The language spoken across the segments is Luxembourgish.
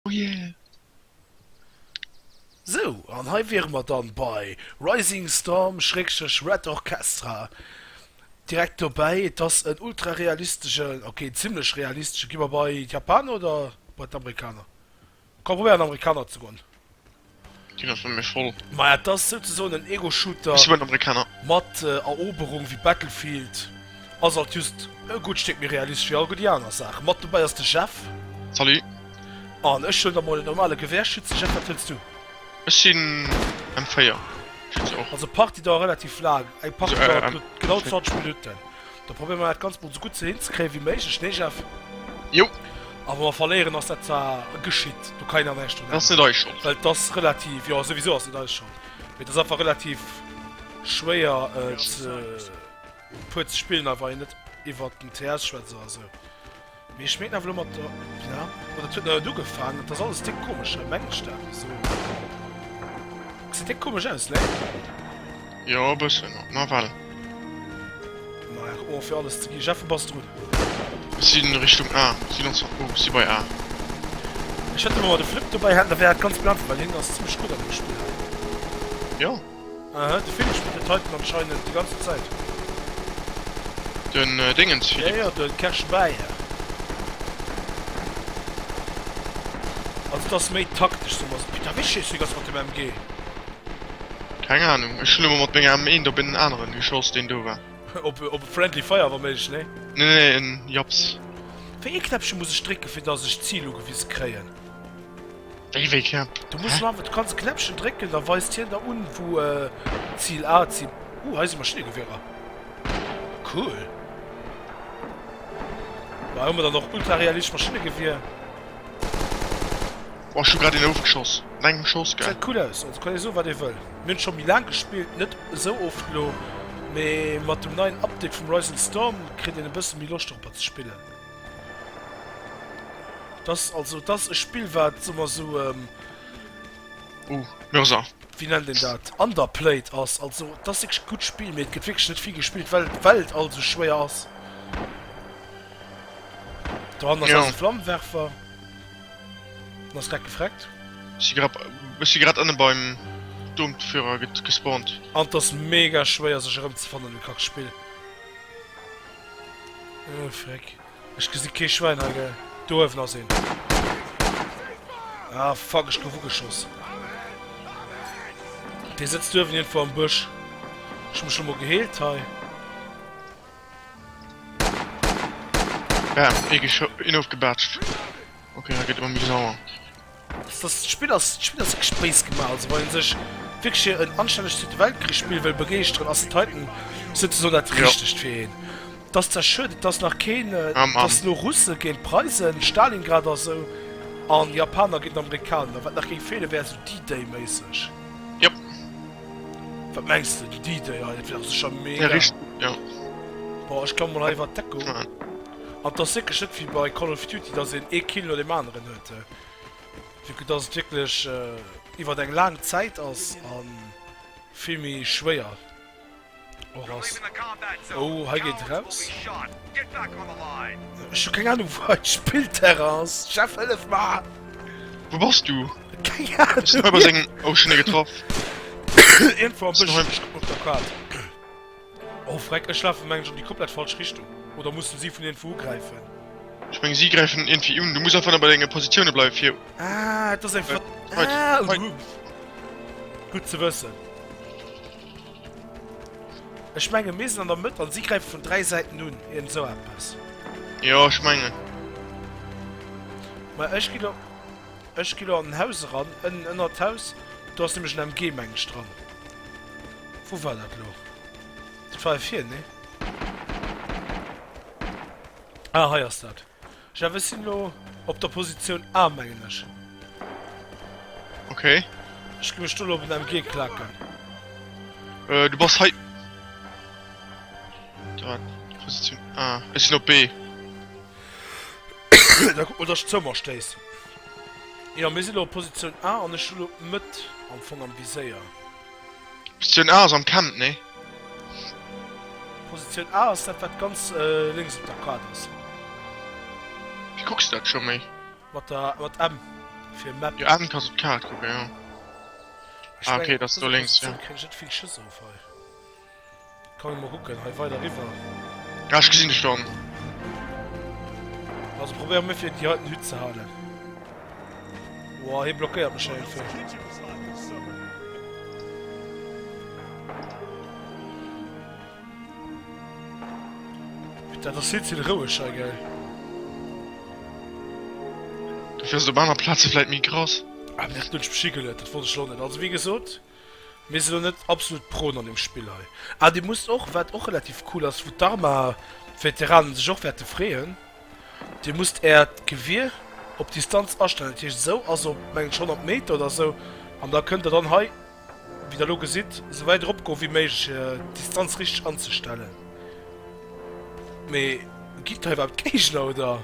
Oh yeah! Sou, an hei wiere mer dann bei Rising Storm Schrägstrech Red Orchestra. Direkt dobäi, et ass en ultra realisteschen, ok, zimmlech realisteschen, gi mer bei d'Japaner oder bei d'Amerikaner? Komm, probéier an Amerikaner ze goen. Deen ass bei mir voll. Maja et ass souzesoen en Ego-Shooter mat Eroberung wéi Battlefield, ass alt just e gutt Stéck méi realistesch wéi all gutt déi aner Saachen. Mat dobäi ass de Jeff. Salut. An ech huelen da mol en normale Gewehrschütze. Jeff wat huels du? Ech sinn M4 Schütze och. Also Partie dauert relativ laang, eng Partie dauert genau 20 Minutten. Da probéieren mer dat ganz mol sou gutt ze hinzekréien wéi méiglech, nee Jeff? Jo. A wa mer verléieren ass dat zwar geschitt, do kann een awer näischt un. Ass net eis Schold. Well t'ass relativ, jo souwisou ass net eis Schold, mee t'ass einfach relativ schwéier et puer ze spillen, a wa een net iwwert den TS schwätzt oder sou. Mee ech meen awer elo mat der. Ja, ma dat huet nach net ugefaangen. Dat ass alles déck komesch hei, mengen ech dat ze soen. Gesäit déck komesch aus, nee? Jo, e bëssen. Nawell. Maja, kuck mol fir alles ze ginn. Jeff, wou bass de drun? Ech si Richtung A. Si ganz weit bou. Si bei A. Ech hätt elo mol de Flip dobäi hätten, da wär dat ganz blann, well hien ass zimmlech gutt an deem Spill hei. Jo. Aha, de Film spillt den Titan anscheinend déi ganzen Zäit. Den Déngens Philippe. Jo, jo, de Kersch Bayer. Also et ass méi taktesch, soe mer esou. Putain, wéi schéisst du déi ganz mat dem MG? Keng Ahnung, ech hunn ëmmer mat menger M eent op en aneren geschoss, deen do war. Op e Friendly Fire wa méiglech, nee? Nee, nee, en Japs. Wéi ee Knäppche muss ech drécken, fir dass ech d'Zil ugewise kréien? Wéi wéi Knäpp? Du muss du einfach, du kannst Knäppchen drécken, da weist hien der un wou äh, Ziel A, Ziel. Uh, heise Maschinegewehrer. Cool. War immer dann noch ultra realistisch Maschinengewehr. War schon gerade den Aufgeschoss. Nein, Schoss geil. Sieht cool aus. Also kann ich so was ich will. Wir haben schon wie lang gespielt, nicht so oft lo. Aber mit dem neuen Update vom Rising Storm kriegt ihr ein bisschen mehr Lust darüber zu spielen. Dass also dass e Spill wat soe mer sou ehm. Oh Mörser. Wéi nennt een dat? Underplayed ass. Also et ass wierklech e gutt Spill, mee et gëtt wierklech net vill gespillt, well well et all esou schwéier ass. Do hannert Jo. ass e Flammenwerfer. En ass grad gefreckt. Ech si grad, ech si grad ënne beim Doomtführer get gespawnt. An et ass mega schwéier sech erëmzefannen an dem Kackspill. Oh frick, ech gesi kee Schwein hei gell. Do uewen ass een. Ah fuck, ech gouf ugeschoss. Dee sëtzt uewen iergendwou am Bësch. Ech hu mech lo mol geheelt hei. Bam, ee ofgebatscht. Okay, hei gëtt et ëmmer méi sauer. D'Spill ass e Gespréichs gemaach, also wann een sech wierklech fir en anstännegt Zweete Weltkrich Spill wëll begeeschteren ass Titan souzesoen dat richtegt fir een. Et ass zwar schued et ass nach keen, dass no Russe géint Preisen, Stalingrad a sou, an Japaner géint Amerikaner, wat nach géing feelen wär sou D-Day méisseg. Jop. Wat mengs de? Den D-Day hei, dat wär dach sécher mega. Ja richt, jo. Boah ech klammen mol hei iwwert d'Deckung. An et ass wierklech net wéi bei Call of Duty dass een ee Kill no deem aneren huet. Vu que dass et wierklech iwwert eng laang Zäit ass a vill méi schwéier och ass. Oh, hei geet eraus. Ech hu keng Anung, wou hei d'Spillterrain ass. Jeff, hëllef mer! Wou bass du? Keng Anung! Ech sinn hei bei sengem. Oh, ech hunn e getraff. Iergendwou am Bësch op der Kaart. Oh freck, ech lafen mengen ech an déi komplett falsch Richtung. Oder mussen si vun ierndwou ugräifen? Ech mengen si gräifen vun ierndwéi un, du muss einfach nëmme bei denge Positioune bleiwen fir. Ah et ass eng Ver. Ah oh Humph. Gutt ze wëssen. Ech mengen mir sinn an der Mëtt an si gräifen vun 3 Säiten un, iernd esou eppes. Jo ech mengen. Mä ech ginn op. Ech gi lo an den Haus eran, ënnen ënnert d'Haus. Do ass nämlech en MG mengen ech dran. Wou war dat lo? Dat war hei vir, nee? Ah, hei ass dat. Jeff, ech sinn lo op der Positioun A mengen ech. Okay. Ech gi mech do lo op en MG klaken. Äh, du bass hei. Positioun A. Ech sinn op B. Da kuck mol dass ech d'Zëmmer stéiss. Jo mir sinn elo op Positioun A an ech hu elo d'Mëtt am Fong am Viséier. Positioun A ass am Camp, nee? Positioun A ass dat wat ganz lénks op der Kaart ass. Wéi kucks de dat scho méi? Mat der mat M fir Map. Jo M kanns op d'Kaart kucken, jo. Ah ok, dat ass do lénks, jo. Ech mengen op dëser Positioun kréien ech net vill Schëss of hei. Komm ech mol kucken, hei weider riwwer. Ja ech gesinn dech schon. Also probéier mol fir déi heiten Hütt ze halen. Woah hie blockéiert mech hei einfach. Dat ass hielt hin roueg hei gell. Du fährst op aner Plaze vläit méi krass. Ah, dat huet mech beschigelt, dat wollt ech lo net. Also wéi gesot. Mir sinn elo net absolut Proen an deem Spill hei. Ah, Dir musst och, wat och relativ cool ass, wou d'Arma-Veteranen sech och wäerte freeën, Dir musst Äert Gewier op Distanz astellen. Dat heescht, esou ass op, mengen ech, 100 Meter oder esou. An da kënnt Der dann hei, wéi Der elo gesitt, esou wäit erop goen, wéi méiglech, fir d'Distanz richteg anzestellen. Mee ginn et hei iwwerhaapt Géigner, oder?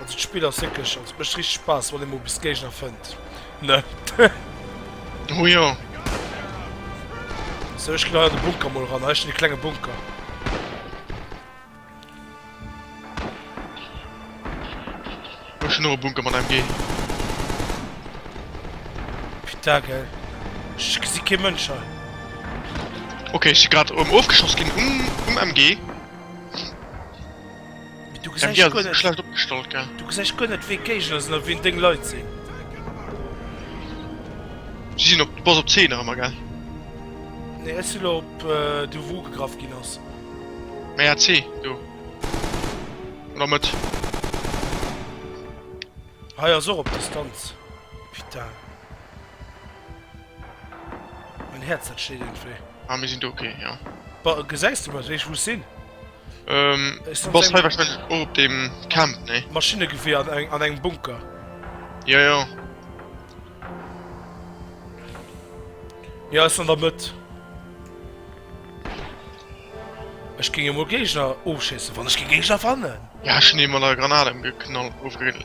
Also d'Spill ass wierklech, also mécht richteg Spaass wann ee mol bis Géigner fënnt, ne? Oh jo. Sou ech ginn hei an de Bunker mol ran, hei ass schon ee klenge Bunker. Ech hu schon och e Bunker mat MG. Putain gell. Ech gesi kee Mënsch hei. Okay ech si grad erëm ofgeschoss ginn um MG. Du gesäich guer net wéi Géigner sinn a wien deng Leit sinn. Si sinn op bass op 10 nach ëmmer gell? Nee ech si lo op do wou ugegraff ginn ass. Méi AC do. Oder Mëtt. Hei ass och op Distanz. Putain. Mein Herz dat steht irgendwie. Ah, mir sinn do, okay, jo. Ba, gesäis du mat, wéi ech wou ech sinn? Ähm, Ech du bass sinn hei wahrscheinlech och op deem Camp, nee? engem Maschinnegewehr an engem, an engem Bunker. Jo, jo. Ja, ass an der Mëtt. Ech géing emol Géigner ofschéissen, wann ech géing Géigner fannen! Ja, ech hunn ee mat enger Granat emgeknall, ofge-.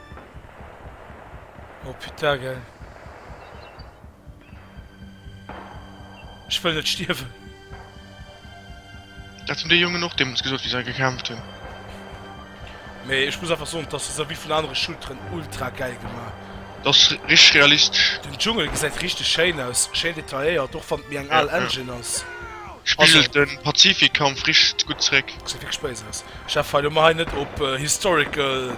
Oh putain gell. Ech wëll net stierwen. Dat hunn déi Jongen och deemools gesot, wéi se hei gekämpft hunn. Mee ech muss einfach soen, dass se se wéi vun anere Shooteren ultra gäil gemaach hunn. Dat ass richteg realistesch. Den Dschungel gesäit richteg schéin aus, schéin detailléiert, och wann et méi eng al Engine ass. Spigelt de Pazifik-Kampf richteg gutt zeréck. Gesäit wierklech béis aus. Ech war elo mei net op Historical.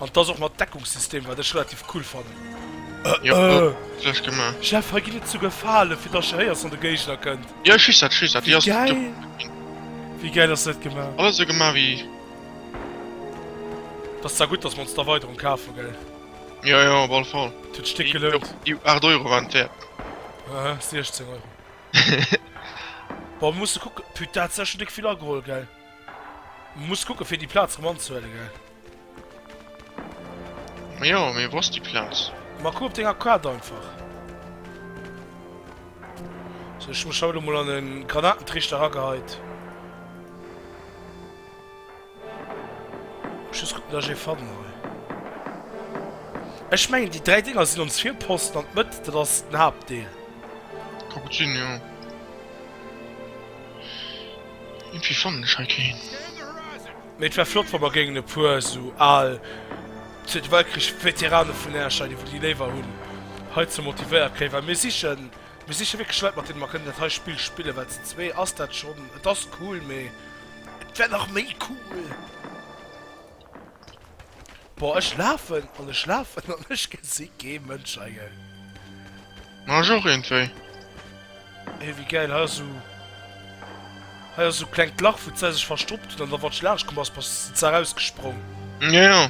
An dass och mat Deckungssystem wat ech relativ cool fannen. Jeff hei geet et souguer Falen fir dass je héiers wann de Géigner kënnt. Wéi gäil ass dat gemaach. Dass zwar gutt dass mer ons d'Erweiderung kaf hu gell. Et huet d'Stéck gelount. Aha 16 Euro. Bon musse kucke, putain dat ass ja scho déck vill ageholl gell. Muss kucke fir déi Plaz rem anzehuele gell. Mee jo, mee wou ass déi Plaz? Ma kuck op denger Kaart einfach. Sou, ech hu mech haut emol an e Granatentriichter erageheit. Muss just kucken, dass ech ee fannen hei. Ech mengen, déi dräi Dinger sinn ons Virposten an d'Mëtt, dat ass den Haaptdeel. Ka gutt sinn, jo. Iergendwéi fannen ech hei keen. Mee et wär flott wa mer géingen e puer esou al Zweete Weltkrich Veterane vun Äerch, Leit iwwer déi léiwer hunn, heizou motivéiert kréien, well mir sichen, mir siche wierklech Leit mat deene mer kënnen dat hei Spill spillen, well ze zwee ass dat schonn, et ass cool, mee et wär nach méi cool. Boah ech lafen an ech lafen an ech gesi kee Mënsch hei. Ma ech och iergendwéi. Hey, wéi gäil! Hei ass sou, hei ass sou klengt Lach, wou d'Sar sech verstoppt huet, an da wann ech laanscht komm ass, bass d'Sar rausgesprong. Ja, ja.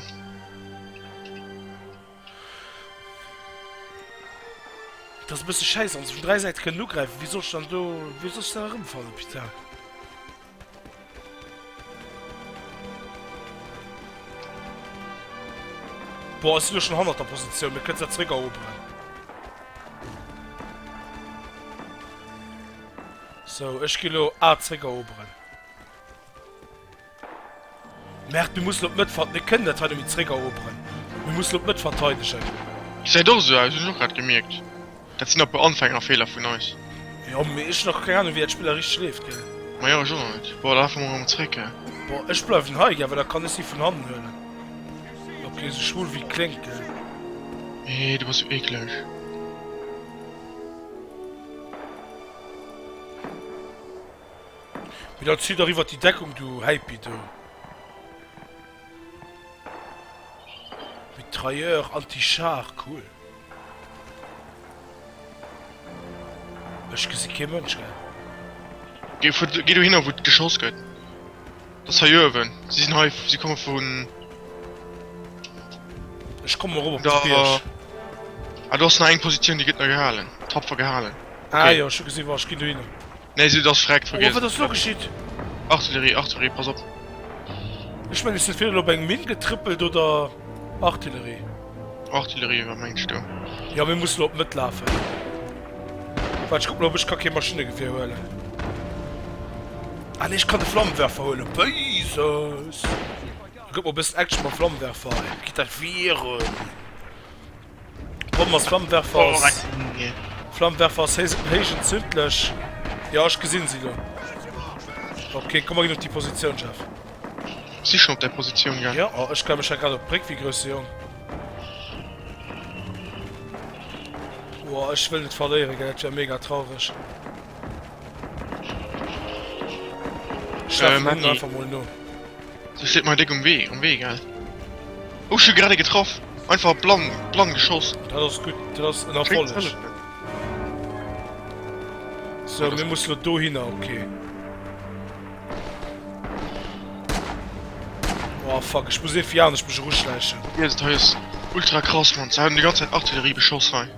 Et ass e bësse schäiss, wann se vun dräi Säite kënnen ugräifen. Wéi soll ech dann do, wéi soll ech dann erëmfannen, putain! Boah, ech sinn elo schonn hannert der Positioun, mir kënnen se zeréck eroberen. Sou, ech ginn elo A zeréck eroberen. Merkt, mir mussen op d'Mëtt ver-, mir kënnen dat hei net méi zréckeroperen. Mir mussen op d'Mëtt verteidegen. Gesäit och esou aus, hunn ech och grad gemierkt. Dat sinn apu Anfängerfeeler vun eis. Jo, mee ech hunn nach keng Ahnung, wéi dat Spill da richteg leeft, gell? Majo, ech och nach net. Boah, da lafe mer erëm zréck, gell? Boah, ech bleiwen hei, gell, well da kann ech si vun hannen huelen. Ok, esou schwul wéi et kléngt, gell? Eeh, du bass sou eekleg. Mee dann zieh dach iwwert déi Deckung do, Heipi, do. Mitrailleur anti-char, cool. Ech gesi kee Mënsch, gell? Geh vu, geh dohinner wou geschoss gëtt. Dass hei uewen. Si sinn hei, si komme vun. Ech kommen erop op de Da. Bierg. Ah do ass nach eng Positioun déi gëtt nach gehalen. Tapfer gehalen. Ah Okay. jo, ech hu gesi, wach, ech ginn dohinner. Nee se ass verreckt vergiess. Oh wat ass lo geschitt? Artillerie Artillerie pass op. Ech mengen ech sinn virhin op eng Minn getrëppelt oder Artillerie. Artillerie war mengst du? Ja mir mussen op d'Mëtt lafen. Waart ech kuck mol ob ech ka kee Maschinnegewier huelen. Ah nee ech kann de Flammenwerfer huelen. Beises! Gëtt mer e bëssen Action mam Flammenwerfer. Gitt dat wieren. D'Bomm ass Flammenwerfers. Flammenwerfers héich entzündlech. Jo, ech gesinn si lo. Okay, komm mer ginn op déi Positioun, Jeff. Si schon op der Positioun gaang. Jo, oh, ech klammen mech hei grad op d'Bréck wéi grousse Jong. Boah, ech wëll net verléieren, gell, dat wär mega traureg. Schleppen hun einfach mol no. Sie steht mei déck um Wee, um Wee, gell? Oh, ech hun grad ee getraff! Einfach blann, blann geschoss! Dat ass gutt, dat ass en Erfolleg. So, mir musse lo dohinner, okay. Oh fuck, ech muss ee fir anescht mech eruschläichen. Yes, hei ass ultra krass, Mann. Se haten déi ganz Zäit Artillerie beschoss hei.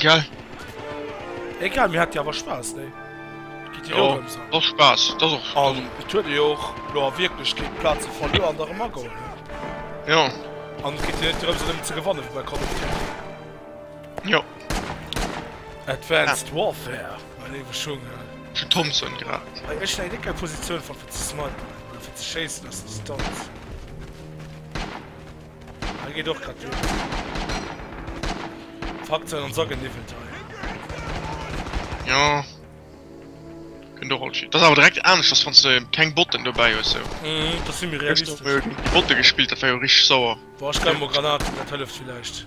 Gell? Egal, mir haten jo awer Spaass, nee? Geet jo och ëmsou. Jo, och Spaass, dat ass och. An et huet ee jo och elo a Wierklechkeet Plaze verluer an der erëm ageholl, ne? Jo. An et geet jo net drëms et ëmmer ze gewannen, wéi bei Call of Duty. Jo. Advanced Warfare, meng Iwwerschwongen. Zu Thompson grad. Hei, ech leien net gär Positioun, fir ze snipen oder fir ze schéissen aus der Distanz. Hei geet och grad duer. Fakt sein an Sack niwwelt hei. Jo. Kënnt och all shit. Dat ass awer direkt anescht ass wanns de keng Botten dobäi hues sou. Mhm, dat si méi Gëscht hu mir realistesch. jo géint Botte gespillt, dat war jo richteg sauer. Boah, ech greiw mol Granaten, dat hëlleft villäicht.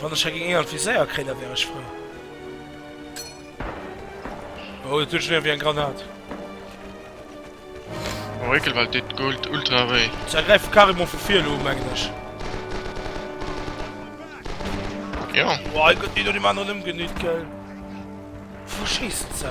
Wann ech hagin eeër Viséier kréien da wär ech frou. Oh dat huet schon ierwéi eng Granat. Oh ekel well deet Gold ultra wéi. Se ergräifen carrément vu vir elo mengen ech. Jo. Wow hei gëtt een no dem aneren ëmgenüt gell. Vu schéissen se?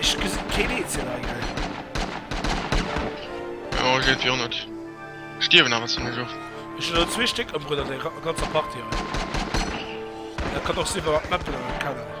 Ech gesinn keen eenzelen Agriff. Jo ech géif jo och net stierwen awer zimlech oft. Ech hun elo zwee Stéck ëmbruet an denger ganzer Partie hei. Dat kann och sinn well mer d'Map vun ënnen kennen.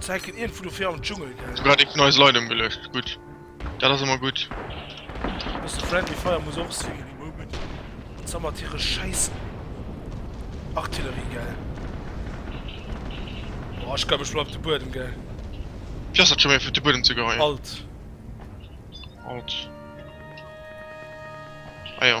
Zeiken irgendwo do fir am Dschungel gell. Hu grad eng vun eis Leit emgeluecht, gudd. Dat ass emmer gudd. Bësse friendly fire muss och sinn, déi Moment ze mat hire schäiss Artillerie gell. Boah ech glaw ech bleiw op de Buedem gell. Fir ass dat scho méi fir op de Buedem ze goen. Alt. Alt. Ah jo.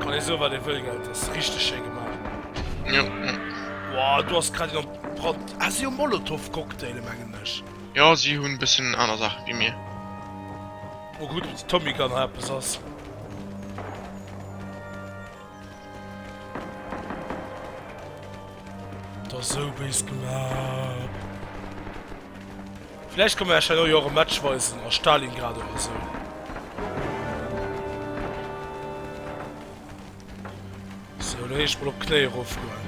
Kann ee soen wat ee wëll, gell, et ass richteg schéi gemaach. Jo. Wow, do ass grad een op d'Brand. Ah, si hu Molotov-Cocktaile mengen ech. Jo, si hunn e bëssen aner Saache wéi mir. Oh gutt, op der Tommy Gun hei eppes ass. Dat ass esou béis gemaach. Vläicht kann mer Iech herno jo och e Match weisen a Stalingrad oder esou. Sou, lo heescht et mol op d'Knéi erofgoen.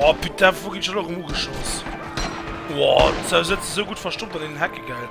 Oh putain, wou ginn ech elo erëm ugeschoss? Wow, du sëtz esou gutt verstoppt an deenen Hecke, gell?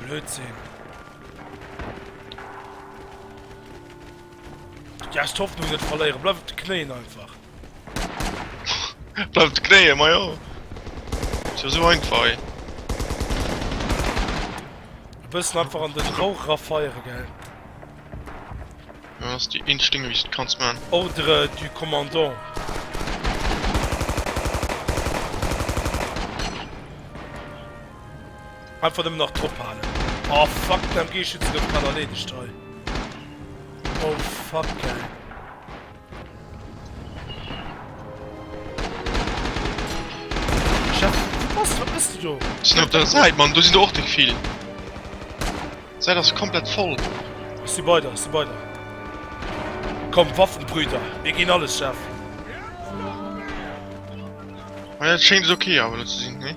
Blödsinn. Ja, ich hoffe, du wirst verlieren. Bleib auf den Knien einfach. Bleib auf den Knien, mein Junge. Ist ja so einfach, ey. Du bist einfach an den Rauch rafeiern, gell? Ja, das ist die Instinkt, wie ich das kannst, man. Ordre du Commandant. Einfach nemmen nach drop haalen. Oh fuck, den MG Schützen gouf grad erleedegt hei. Oh fuck ey. Chef, was, wat bist du do? Sin op der Seit man, do sin der och deg vill. Seit ass komplett voll. Ech si bei der, ech si bei der. Komm Waffenbrüder, mir gin alles Chef. Schéngt et ok awer do ze sinn, nee?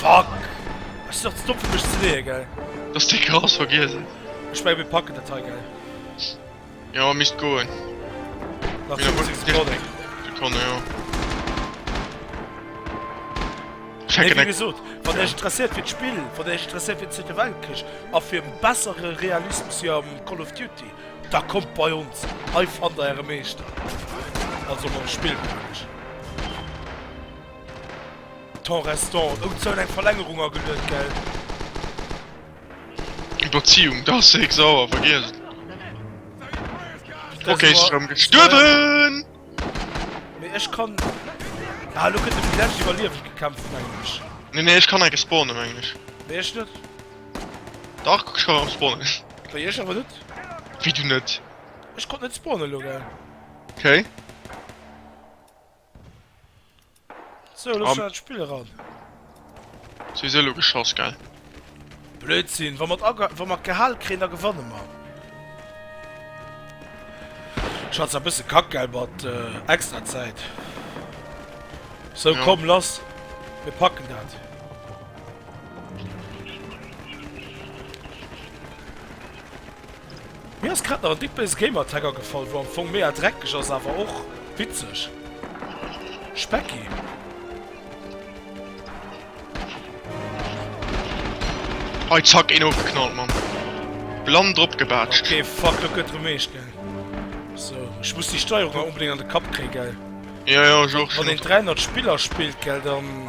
Fuck! Ech sinn nach ze domm fir mech ze leeën, gell? Dass de Gras vergiess hues. Ech mengen mir packen dat hei, gell? Jo, misst goen. Nach 50 Sekonnen. Sekonne, jo. Checken eng. Wéi gesot, wann Iech interesséiert fir d'Spill, wann Iech interesséiert fir den Zweete Weltkrich a fir e bessere Realismus wéi am Call of Duty. Da kommt bei ons, hei fannt der äre Meeschter, also mam Spillkousch. Temps restant, oh zou, eng Verlängerung ageluet, gell? Iwwerziehung, da ass Sex awer vergiess et. Ok, si rëm gestuerwen! Mee ech kann, ah lo kënnt e fir d'lescht iwwerliewen gekämpft mengen ech. Nee nee, ech kann enke spawnen mengen ech. Nee ech net. Dach kuck ech war am spawnen. Bei iech awer net. Wéi du net? Ech konnt net spawnen elo gell. Ok. So elo schon an d'Spill eran. Souwisou elo geschoss gell. Blödsinn, wa mer ageha wa mer gehal kréien da gewanne mer. Schatz war bësse kack gell mat extra Zäit. So komm lass mir packen dat. Mir ass grad nach en dick béise Gamertag agefall, wou am Fong mega dreckeg ass, awer och witzeg. Specki. Hei zack een ofgeknallt man. Blann drop gebaatscht. Okay fuck dat gëtt rem meescht gell. So ech muss déi Steierung awer onbedéngt an de Kapp kréien gell. Jo jo ech och. Wann een 300 Spiller spillt gell dann.